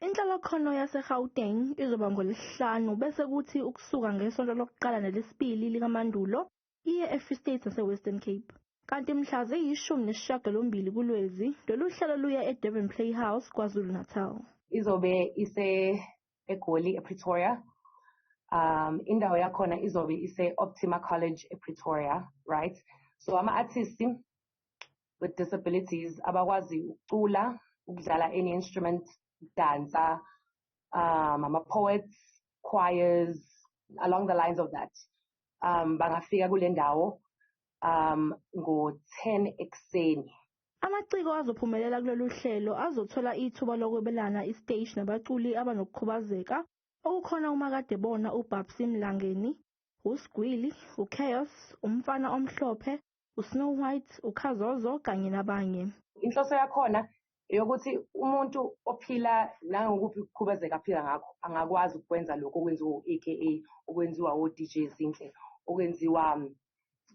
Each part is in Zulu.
Inhlolokhono yaseGauteng izoba ngoLwesihlanu bese kuthi ukusuka ngesonto lokuqala nelesibili likaMandulo iye eFree State naseWestern Cape. Kanti mhla ziyishumi nesishiyagalombili kuLwezi lolu hlelo luya eDurban Playhouse KwaZulu-Natal. Izobe ise eGoli ePretoria. Um indawo yakhona izobe ise Optima College ePretoria, right? So ama artists with disabilities abakwazi ukucula ukudlala any instrument dansa um ama poets choirs along the lines of that um bangafika kule ndawo um ngo-10 ekuseni Amaciko azophumelela kulolu hlelo azothola ithuba lokwebelana isiteshi nabaculi abanokukhubazeka okukhona uMakadebona uBabsy Mlangeni, uSgwili, uChaos, uMfana Omhlophe, uSnow White, uKhazozo kanye nabanye. Inhloso yakhona eyokuthi umuntu ophila nangokuphi ukukhubazeka aphila ngakho angakwazi ukwenza lokhu okwenziwa u-aka okwenziwa o-dj zinhle okwenziwa mm,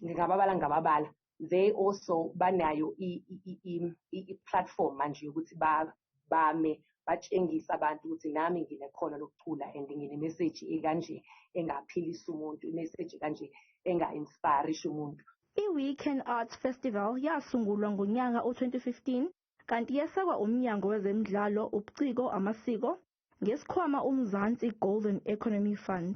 ngingababala ngababala they also banayo i-platform manje yokuthi bame batshengisa abantu ukuthi nami nginekhono lokucula and nginemeseji ekanje engaphilisa umuntu imeseji kanje enga-inspirisha umuntu I-Weekend Arts Festival yasungulwa ngonyaka u-2015 kanti yesekwa uMnyango wezeMidlalo, ubuCiko, amaSiko ngesikhwama uMzansi Golden Economy Fund.